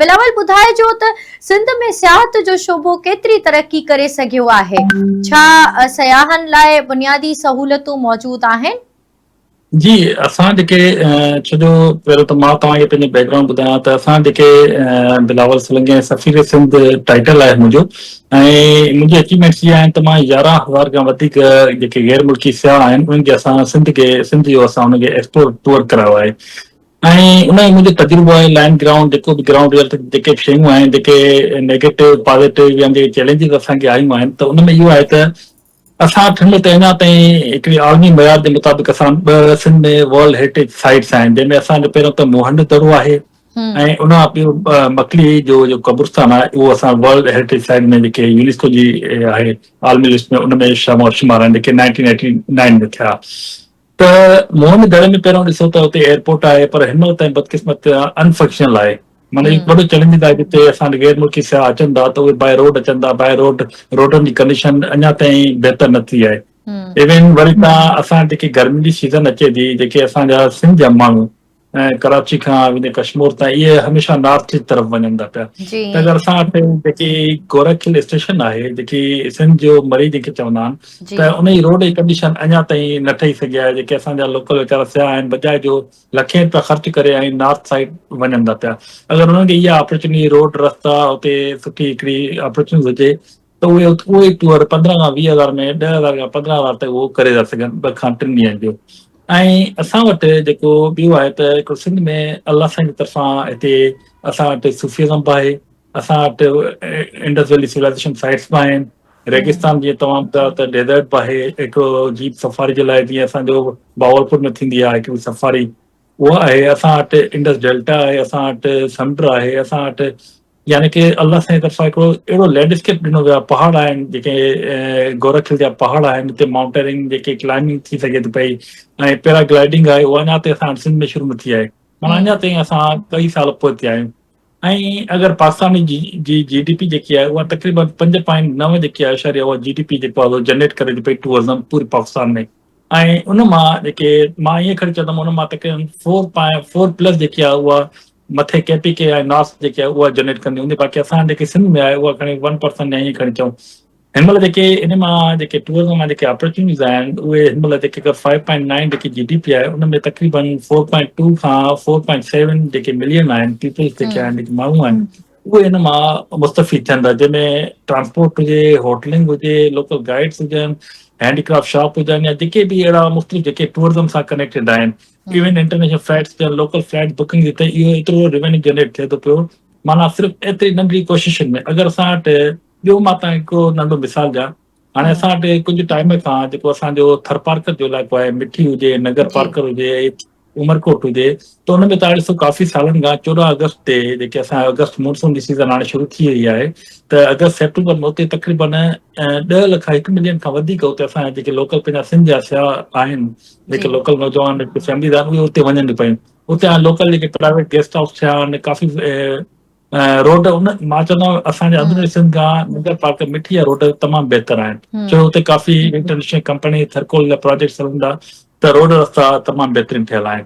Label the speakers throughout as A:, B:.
A: بلاول ٻڌائجو ته سنڌ ۾ سياحت جو شعبو ڪيتري ترقي ڪري سگهيو آهي؟ ڇا سياحن لاء بنيادي سهولتون موجود آهن؟ جي
B: اسان جيڪي ڇو جو پهريون ته مان توهان کي پنهنجو بيڪ گرائونڊ ٻڌايان ته اسان جيڪي بلاول سولنگي ۽ سفير سنڌ ٽائيٽل آهي منهنجو ۽ منهنجي اچيومينٽس جي آهن ته مان يارهن هزار کان وڌيڪ جيڪي غير ملڪي سياح آهن انهن کي اسان سنڌ کي سنڌ جو اسان انهن کي ايڪسپورٽ ٽوئر ڪرايو آهي ۽ انهي ئي منهنجو تجربو آهي لائن گرائونڊ جيڪو به گرائونڊ ريئلٽي جيڪي به شيون آهن جيڪي نيگيٽو پازيٽو يا جيڪي چيلينجز اسان کي آيون آهن ته ان ۾ اهو آهي ته اسان اٺن ۾ ته اڃا تائين هڪڙي عالمي معيار جي مطابق اسان ٻه سنڌ ۾ ورلڊ هيرٽيج سائيٽس آهن جنهن ۾ اسان جو پهريون ته موهنڊو دڙو آهي ۽ ان کان ٻيو مڪلي جو جو قبرستان آهي اهو اسان ورلڊ هيرٽيج سائيٽ ۾ جيڪي يونيسڪو جي آهي عالمي لسٽ ۾ ان ۾ شمار آهن جيڪي نائنٽين ايٽي نائين ۾ ٿيا ته موهن دڙي ۾ پهريون ڏسو ته اتي ايئرپورٽ آهي پر هن وقت تائين بدقسمت ان فنڪشنل آهي معنيٰ هي وڏو چئلينجز آهي جتي اسان غير ملڪي سياح اچن ٿا ته اهي باء روڊ اچن ٿا باء روڊ روڊن جي ڪنڊيشن اڃا تائين بهتر نه ٿي آهي ايون وري تان اسان جيڪي گرمين جي سيزن اچي ٿي جيڪي اسان جا سنڌ جا ماڻهو ۽ ڪراچي کان ويندي ڪشمور تائين اهي هميشه نارٿ جي طرف وڃن ٿا پيا جي ته اگر اسان وٽ جيڪي گورک هل اسٽيشن آهي جيڪي سنڌ جو مري جيڪي چوندا آهن جي ته ان جي روڊ جي ڪنڊيشن اڃا تائين نه ٺهي سگهي آهي جيڪي اسان جا لوڪل ويچارا سياح آهن بجاء جو لکين روپيا خرچ ڪري ۽ نارٿ سائيڊ وڃن ٿا پيا اگر انهن کي اها اپرچونيٽي روڊ رستا اتي سٺي هڪڙي اپرچونيٽي هجي ته اهي اهو ئي ٽوئر پندرهن کان ويهه هزار ۾ ڏهه هزار کان پندرهن هزار تائين اهو ڪري ٿا سگهن ٻه کان ٽن ڏينهن جو ۽ اسان وٽ جيڪو ٻيو آهي ته هڪڙو سنڌ ۾ الله سائين جي طرفان هتي اسان وٽ صوفيزم به آهي اسان وٽ انڊس ويلي سولائزيشن سائٽس به آهن ريگستان جي تمام ٻڌايو ته ڊيزرٽ به آهي هڪڙو جيپ سفاري جي لاء جيئن اسان جو باولپور ۾ ٿيندي آهي هڪڙي سفاري اها آهي اسان وٽ انڊس ڊيلٽا آهي اسان وٽ سمنڊ آهي اسان وٽ يعني ڪي الله سائين طرفان هڪڙو اهڙو لينڊ اسڪيپ ڏنو ويو آهي پهاڙ آهن جيڪي گورک هل جا پهاڙ آهن اتي مائونٽيرنگ جيڪي ڪلائمنگ ٿي سگهي ٿي پئي ۽ پيرا گلائيڊنگ آهي اها اڃا تائين اسان سنڌ ۾ شروع نه ٿي آهي مانا اڃا تائين اسان ڪئي سال پوئتي آهيون ۽ اگر پاڪستان جي جي جي ڊي پي جيڪي آهي اها تقريبن پنج پوائنٽ نو جيڪي آهي اشاري اها جي ڊي پي جيڪو آهي جنريٽ ڪري ٿي پئي ٽوئرزم پوري پاڪستان ۾ ۽ ان مان جيڪي مان ائين کڻي چوندم ان مان تقريبن فور پوائنٽ فور پلس جيڪي آهي اها مٿي ڪي پي ڪي ۽ ناس جيڪي آهي اها جنريٽ ڪندي هوندي باقي اسان جيڪي سنڌ ۾ آهي اها کڻي ون پرسنٽ يا ائين کڻي چئون هن مهل جيڪي ان مان جيڪي ٽوئرزم مان جيڪي اپرچونيز آهن اهي هن مهل جيڪي اگر فائيو پوائنٽ نائن جيڪي جي ڊي پي آهي ان ۾ تقريبن فور پوائنٽ ٽو کان فور پوائنٽ سيون جيڪي ملين آهن پيپلس جيڪي آهن جيڪي ماڻهو آهن اهي هن مان مستفيد ٿين ٿا جنهن ۾ ٽرانسپورٽ هجي هوٽلنگ هجي لوڪل گائيڊس هجن هينڊي ڪرافٽ شاپ هجن يا جيڪي به اهڙا مختلف جيڪي ٽوئرزم سان ڪنيڪٽيڊ آهن ايون انٽرنيشنل فلائيٽس يا لوڪل فلائيٽ بڪنگ جي تي اهو ايترو ريونيو جنريٽ ٿئي ٿو پيو معنيٰ صرف ايتري ننڍڙي ڪوششن ۾ اگر اسان وٽ ٻيو مان تان هڪڙو ننڍو مثال ڏيان هاڻي اسان وٽ ڪجهه ٽائيم کان جيڪو اسانجو ٿرپارڪر جو علائقو آهي مٺي هجي نگر پارڪر هجي عمرڪوٽ هجي ته ان ۾ تاريخ ڪافي سالن کان چوڏهن اگست تي جيڪي اسان اگست مونسون جي سيزن هاڻي شروع ٿي وئي آهي ته اگست سيپٽمبر ۾ اتي تقريبن ڏهه لک هڪ ملين کان وڌيڪ اتي اسان جيڪي لوڪل پنهنجا سنڌ جا سياح آهن جي جيڪي لوڪل نوجوان جي فيمليز آهن اهي اتي وڃن پيون اتي هاڻ لوڪل جيڪي پرائيويٽ گيسٽ هائوس ٿيا آهن ڪافي روڊ ان مان چوندو آهيان اسان جي اندر همم سنڌ کان ننگر پارڪ مٺي جا روڊ تمام بهتر آهن ڇو جو هتي ڪافي انٽرنيشنل ڪمپني ٿرڪول جا پراجيڪٽس هلن ٿا ته روڊ رستا تمام بهترين ٺهيل آهن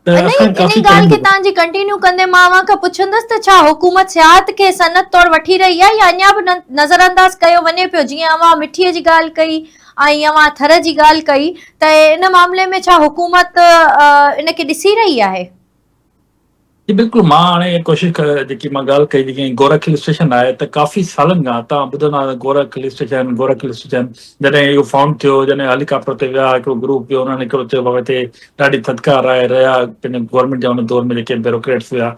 B: ته اکر ڪافي ٽائيم هو. ان ئي ڳالهه
A: کي تان
B: جي
A: ڪنٽينيو ڪندي مان اوهان کان پڇندس ته ڇا حڪومت سياحت کي صنعت طور وٺي رهي آهي يا اڃا به نظرانداز ڪيو وڃي پيو جيئن اوهان مٺي جي ڳالهه ڪئي ۽ اوهان ٿر جي ڳالهه ڪئي ته ان معاملي ۾ ڇا حڪومت ان کي ڏسي رهي آهي؟
B: جي بلڪل مان هاڻي اها ڪوشش ڪري جيڪي مان ڳالهه ڪئي جيڪي گورک هل اسٽيشن آهي ته ڪافي سالن کان تان ٻڌندا آهيو Gorakh hill station Gorakh hill station جڏهن اهو فائونڊ ٿيو جڏهن هيليڪاپٽر تي ويا هڪڙو گروپ ويو انهن هڪڙو چيو بابا هتي ڏاڍي ٿڌڪار آهي، رهيا پنهنجي گورنمينٽ جا ان دور ۾ جيڪي بيروڪريٽس هيا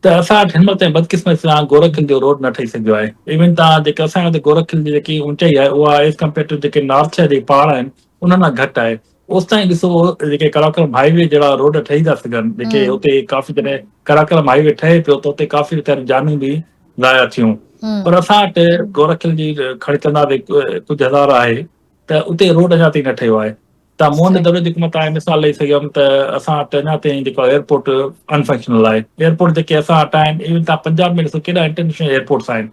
B: ته اسان وٽ هن وقت تائين بدقسمتي سان گورک هل جو روڊ نه ٺهي سگهيو آهي ايون توهان جيڪي اسان هتي گورک هل جي جيڪي اونچائي آهي اها ايز ڪمپيئر ٽو جيڪي نارٿ شهر جي پهاڙ آهن انهن کان گهٽ آهي اوستائين ڏسو جيڪي ڪراڪرم هاء وي جهڙا روڊ ٺهي ٿا سگهن جيڪي اتي ڪافي جڏهن ڪراڪرم هاء وي ٺهي پيو ته اتي ڪافي ويچاري جانون به ضايع ٿيون پر اسان وٽ گورک هل جي کڙڪندڙ ڪجهه هزار آهي ته اتي روڊ اڃا تائين نه ٺهيو آهي ته مون ان دوري جيڪو مان تان مثال ڏئي سگهيم ته اسان وٽ اڃا تائين جيڪو ايئرپورٽ انفنڪشنل آهي ايئرپورٽ جيڪي اسان وٽ آهن ايون تان پنجاب ۾ ڏسو ڪيڏا انٽرنيشنل ايئرپورٽس آهن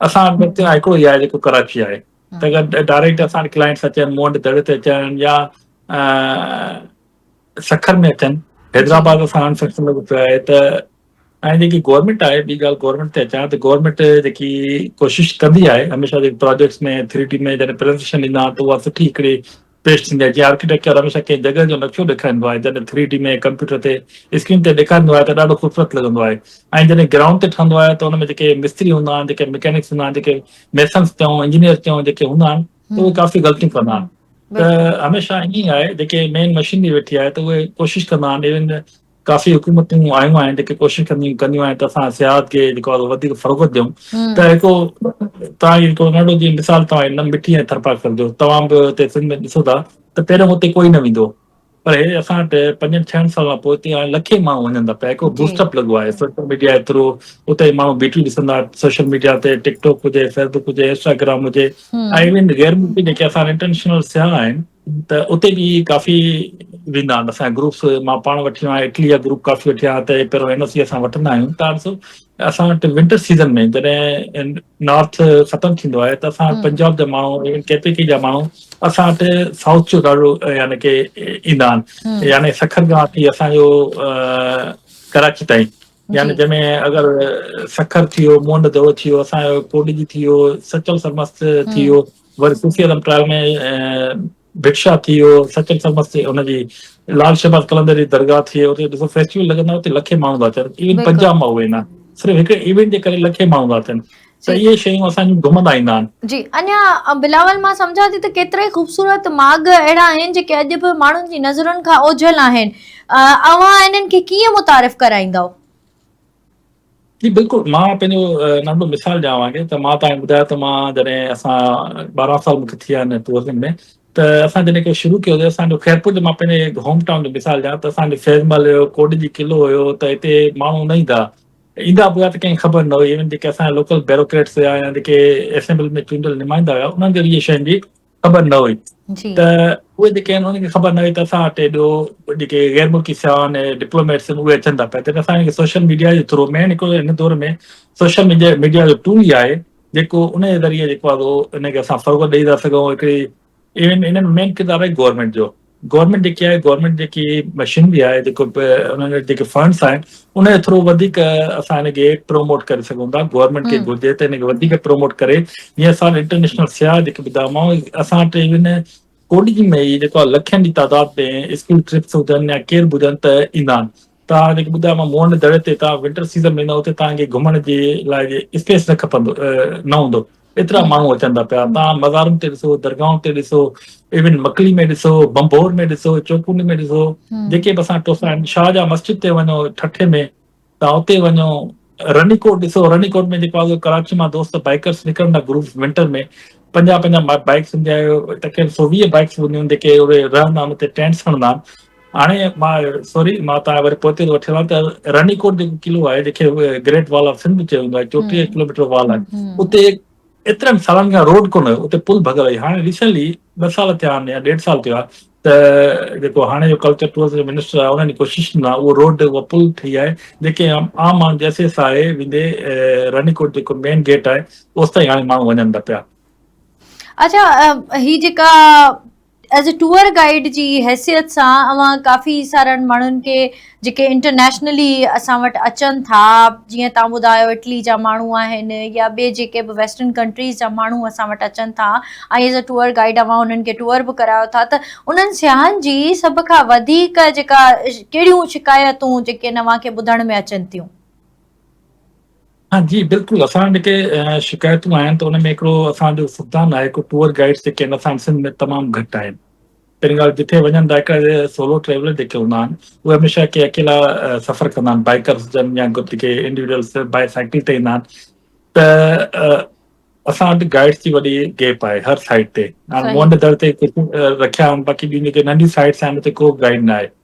B: اسان وٽ بس هڪڙو ئي آهي جيڪو ڪراچي آهي ته اگر ڊائريڪٽ اسان وٽ ڪلائنٽس اچن مون وٽ دڙي تي اچن يا سکر ۾ اچن حيدرآباد اسان انفنڪشنل ڪيو آهي ته ۽ جيڪي گورنمينٽ آهي ٻي ڳالهه گورنمينٽ تي اچان ته گورنمينٽ جيڪي ڪوشش ڪندي آهي هميشه جيڪي پراجيڪٽس ۾ ٿري ڊي ۾ جڏهن پريزنٽيشن ڏيندا آهن ته اها سٺي هڪڙي پيش ٿيندي آهي جيئن آرڪيٽيڪچر هميشه ڪنهن جڳهه جو نقشو ڏيکاريندو آهي جڏهن ٿري ڊي ۾ ڪمپيوٽر تي اسڪرين تي ڏيکاريندو آهي ته ڏاڍو خوبصورت لڳندو آهي ۽ جڏهن گرائونڊ تي ٺهندو آهي ته ان ۾ جيڪي مستري هوندا آهن جيڪي ميڪينڪس هوندا آهن جيڪي ميسنس چئون انجنيئر چئون جيڪي هوندا آهن ته اهي ڪافي غلطيون ڪندا آهن ته هميشه
A: ائين
B: آهي جيڪي مين مشينري ويٺي آهي ته اهي ڪوشش ڪندا آهن ايون ڪافي حڪومتون آيون آهن جيڪي ڪوشش ڪنديون ڪنديون آهن ته اسان سياحت کي جيڪو آهي وڌيڪ فروغت ڏيون ته هڪ توهان جي هڪ ننڍو جي مثال توهان هن مٺي ۽ ٿرپاڪر جو توهان به هتي سنڌ ۾ ڏسو ٿا ته پهريون هتي ڪوئي نه ويندو پر هي اسان وٽ پنجن ڇهن سالن کان پوء هتي هاڻي لکين ماڻهو وڃن ٿا پيا هڪ بوسٽ اپ لڳو آهي سوشل ميڊيا جي ٿرو اتي ماڻهو بيٽيون ڏسن ٿا سوشل ميڊيا تي ٽڪ ٽاڪ هجي فيسبوڪ هجي انسٽاگرام هجي ۽ ايون غير ملڪي جيڪي اسان انٽرنيشنل سياح آهن ته اتي به ڪافي ويندا آهن اسان گروپس مان پاڻ وٺي ويو آهيان اٽلي جا گروپ ڪافي وٺيا آهن ته پهريون اين او سي اسان وٺندا آهيون تان ڏسو اسان وٽ ونٽر سيزن ۾ جڏهن نارٿ ختم ٿيندو آهي ته اسان پنجاب جا ماڻهو ايون ڪي پي ڪي جا ماڻهو اسان وٽ سائوٿ جو ڏاڍو يعني ڪي ايندا آهن يعني سکر کان وٺي اسان جو ڪراچي تائين يعني جنهن ۾
A: اگر
B: سکر ٿي ويو موهن جو دڙو ٿي ويو اسان جو ڪوڏجي ٿي ويو سچل سرمست ٿي ويو وري صوفي اعظم ٽرائل ۾ ڀٽشاهه ٿي ويو، سچل سرمست ٿي ان جي لال شهباز قلندر جي درگاهه ٿي اتي ڏسو فيسٽيول لڳندا آهن اتي لکين ماڻهو ٿا اچن ايون بلڪل پنجاب مان اهي نه صرف هڪ ايونٽ جي ڪري لکين ماڻهو ٿا اچن ته جي اهي شيون اسان جون
A: گهمندا
B: ايندا آهن. جي اڃا
A: بلاول مان سمجهان ٿي ته ڪيترائي خوبصورت ماڳ اهڙا آهن جيڪي اڄ به ماڻهن جي نظرن کان اوجهل آهن اوهان انهن کي ڪيئن متعارف ڪرائيندؤ.
B: جي بلڪل مان پنهنجو ننڍو مثال ڏيان اوهان کي ته مان توهان کي ٻڌايو ته مان جڏهن اسان ٻارهن سال مونکي ٿي ويا آهن توسن ۾ ته اسان جڏهن کي شروع ڪيو هو اسان جو خيرپور جو مان پنهنجي هوم ٽائون جو مثال ڏيان ته اسان جو فيض محل هيو ڪوڏ جي قلعو هيو ته هتي ماڻهو نه ايندا ايندا به هيا ته ڪنهن کي خبر نه هئي ايون جيڪي اسان جا لوڪل بيروڪريٽس هيا يا جيڪي اسيمبل ۾ چونڊيل نمائندا هيا انهن کي به اهي شين جي خبر نه هئي
A: ته اهي جيڪي
B: آهن انهن کي خبر نه هئي ته اسان وٽ ايڏو جيڪي غير ملڪي سياح آهن ڊپلوميٽس اهي اچن ٿا پيا تڏهن اسان کي سوشل ميڊيا جي ٿرو مين هڪ هن دور ۾ سوشل ميڊيا جو ٽول ئي آهي جيڪو ان جي ذريعي جيڪو آهي ان کي اسان فروغ ڏئي ٿا سگهون هڪڙي انهن مين ڪردار آهي گورنمينٽ جو گورنمينٽ جيڪي آهي گورنمينٽ جيڪي مشينري آهي جيڪو به انهن جا جيڪي فنڊس آهن ان جي ٿرو وڌيڪ اسان هن کي پروموٽ ڪري سگهون ٿا گورنمينٽ کي گهرجي ته هن کي وڌيڪ پروموٽ ڪري جيئن اسان انٽرنيشنل سياح جيڪي ٻڌايومانو اسان وٽ ايون ڪوڏي ۾ ئي جيڪو لکين جي تعداد ۾ اسڪول ٽرپس هجن يا ڪير به هجن ته ايندا آهن توهان جيڪي ٻڌايو مان موهن دڙي تي توهان ونٽر سيزن ۾ ايندا اتي توهان کي گهمڻ جي لاء اسپيس نه کپندو نه هوندو ايترا ماڻهو اچن ٿا پيا توهان مزارن تي ڏسو درگاهن تي ڏسو ايون مڪلي ۾ ڏسو بمبور ۾ ڏسو چوڪوني ۾ ڏسو جيڪي به اسان ٽوسا آهن شاهجهان مسجد تي وڃو ٺٺي ۾ توهان اتي وڃو رني ڪوٽ ڏسو رني ڪوٽ ۾ جيڪو آهي ڪراچي مان دوست بائيڪرس نڪرندا گروپس ونٽر ۾ پنجاهه پنجاهه بائيڪس هوندي آهي تقريبن سو ويهه بائيڪس هونديون آهن جيڪي اهي رهندا آهن اتي ٽينٽس هڻندا آهن هاڻي مان سوري مان تان وري پوئتي ٿو وٺي ويان ته رني ڪوٽ جيڪو قلعو آهي جيڪي گريٽ وال آف سنڌ چيو ويندو آهي چوٽيهه ڪلوميٽر وال آهي اتي ايترن سالن کان روڊ ڪونه هيو اتي پل ڀڳل هئي هاڻي ريسنلي ٻه سال ٿيا آهن يا ڏيڍ سال ٿيو آهي ته جيڪو هاڻي جو ڪلچر ٽوئرزم جو منسٽر آهي انهن جي ڪوشش سان اهو روڊ اها پل ٺهي آهي جيڪي عام ماڻهو جيسي ايس آء اي ويندي رني ڪوٽ جيڪو مين گيٽ آهي اوس تائين هاڻي ماڻهو وڃن ٿا پيا اڇا
A: هي جيڪا ايز ٽوئر گائيڊ جي حيثيت سان اوهان ڪافي سارن ماڻهن کي جيڪي انٽرنيشنلي اسان وٽ اچن ٿا جيئن تان ٻڌايو اٽلي جا ماڻهو آهن يا ٻي جيڪي به ويسٽرن ڪنٽريز جا ماڻهو اسان وٽ اچن ٿا ۽ ايز ٽوئر گائيڊ اوهان انهن کي ٽوئر به ڪرايو ٿا ته انهن سياحن جي سڀ کان وڌيڪ جيڪا ڪهڙيون شڪايتون جيڪي اوهان کي ٻڌڻ ۾ اچن ٿيون؟
B: ها جي بلڪل اسان وٽ جيڪي شڪايتون آيا آهن ته ان ۾ هڪڙو اسان جو فقدان آهي ڪو ٽوئر گائيڊس جيڪي آهن اسان سنڌ ۾ تمام گهٽ آهن پهرين ڳالهه جتي وڃن ٿا هڪڙا جي سولو ٽريولر جيڪي هوندا آهن اهي هميشه ڪي اڪيلا سفر ڪندا آهن بائيڪرس جن يا گڏ جيڪي انڊيوڊلس بائي سائيڪل تي ايندا آهن ته اسان وٽ گائيڊس جي وڏي گيپ آهي هر سائيڊ تي هاڻي مون وٽ در تي رکيا آهن باقي ٻيون جيڪي ننڍيون سائيڊس آهن اتي ڪو به گائيڊ نه آهي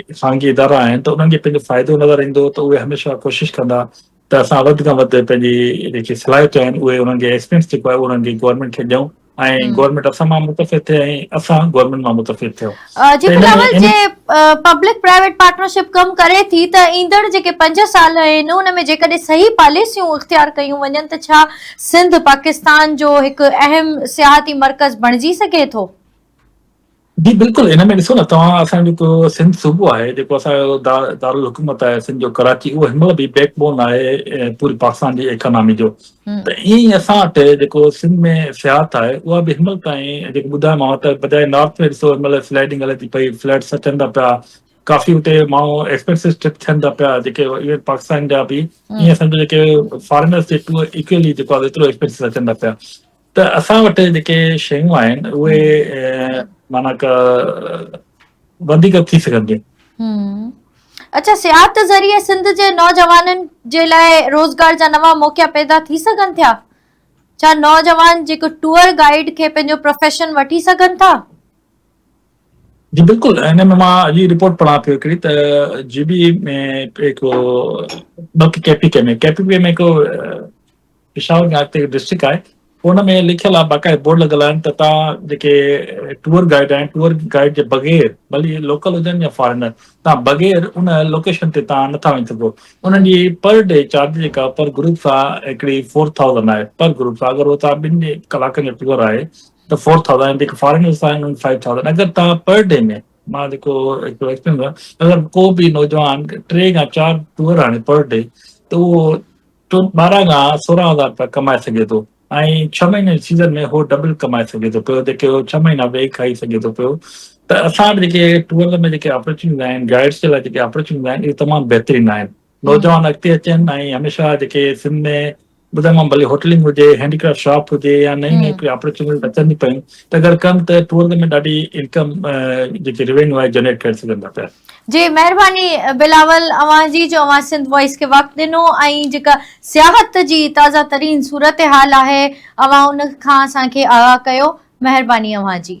B: جيڪي خانگي ادارا آهن ته انهن کي پنهنجو فائدو نظر ايندو ته اهي هميشه ڪوشش ڪندا ته اسان وڌ کان وڌ پنهنجي جيڪي صلاحيتون آهن اهي انهن کي ايڪسپيرينس جيڪو آهي انهن کي گورنمينٽ کي ڏيون ۽ گورنمينٽ اسان مان متفق ٿئي ۽ اسان گورنمينٽ مان متفق ٿيون جي بلاول جي
A: پبلڪ پرائيويٽ پارٽنرشپ ڪم ڪري ٿي ته ايندڙ جيڪي پنج سال آهن ان ۾ جيڪڏهن صحيح پاليسيون اختيار ڪيون وڃن ته ڇا سنڌ پاڪستان جو هڪ اهم سياحتي مرڪز بڻجي سگهي ٿو
B: جي بلڪل ان ۾ ڏسو نه توهان اسان جو جيڪو سنڌ صوبو آهي جيڪو اسان جو دارالحڪومت آهي سنڌ جو ڪراچي اهو هن مهل به بيڪ بون آهي پوري پاڪستان جي اڪانامي جو ته ائين ئي اسان وٽ جيڪو سنڌ ۾ سياحت آهي اها به هن مهل تائين جيڪو ٻڌايومانو ته بجاء نارٿ ۾ ڏسو هن مهل سلائيڊنگ هلي ٿي پئي فليٽس اچن ٿا پيا ڪافي اتي ماڻهو ايڪسپينسز ٽرپ ٿين ٿا پيا جيڪي ايون پاڪستان جا به ائين اسان جا جيڪي فارينرس جي ٽور اڪيلي جيڪو ايترو ايڪسپينسز اچن ٿا پيا ته اسان وٽ جيڪي شيون آهن اهي معنيٰ ڪا وڌيڪ ٿي سگهنديون
A: اچا سياحت ذريعي سنڌ جي نوجوانن جي لاء روزگار جا نوان موقعا پيدا ٿي سگهن ٿيا ڇا نوجوان جيڪو ٽوئر گائيڊ کي پنهنجو پروفيشن وٺي سگهن ٿا
B: جي بلڪل ان ۾ مان اڄ رپورٽ پڙهان پيو هڪڙي ته جي بي ۾ هڪ ٻه ڪي پي ڪي ۾ ڪي پي ڪي ۾ هڪ پشاور ۾ اڳتي هڪ ڊسٽرڪٽ آهي ان ۾ لکيل آهي باقاعده بورڊ لڳل آهن ته تان جيڪي ٽوئر گائيڊ آهن ٽوئر گائيڊ جي بغير ڀلي لوڪل هجن يا فارينر تان بغير ان لوڪيشن تي تان نٿا وڃي سگهو انهن جي پر ڊي چارج جيڪا پر گروپ سان هڪڙي فور ٿائوزنڊ آهي پر گروپ سان اگر اوتان ٻن جي ڪلاڪن جو ٽوئر آهي ته فور ٿائوزنڊ جيڪي فارينرس آهن انهن فائيو ٿائوزنڊ اگر تان پر ڊي ۾ مان جيڪو هڪڙو ايڪسپيرينس اگر ڪو به نوجوان ٽي يا چار ٽوئر آڻي پر ڊي ته اهو تون ٻارهن کان سورهن هزار روپيا ڪمائي سگهين ٿو ۽ ڇهه مهينن جي سيزن ۾ هو ڊبل ڪمائي سگهي ٿو پيو جيڪي هو ڇهه مهينا ويهي کائي سگهي ٿو پيو ته اسان وٽ جيڪي ٽوئر ۾ جيڪي اپرچونيز آهن گائيڊس جي لاء جيڪي اپرچونيز آهن اهي تمام بهترين آهن نوجوان اڳتي اچن ۽ هميشه جيڪي سنڌ ۾ ٻڌم مان ڀلي هوٽلنگ هجي هينڊيڪرافٽ شاپ هجي يا نئين نئين ڪي اپرچونيز اچن ٿي پيون ته اگر ڪن ته ٽوئر ۾ ڏاڍي انڪم جيڪي روينيو آهي جنريٽ ڪري سگهن ٿا پيا جي مهرباني
A: بلاول اوهان جي جو اوهان سنڌ وائس کي وقت ڏنو ۽ جيڪا سياحت جي تازه ترين صورتحال آهي اوهان ان کان اسان کي آگاهه ڪيو مهرباني اوهان جي.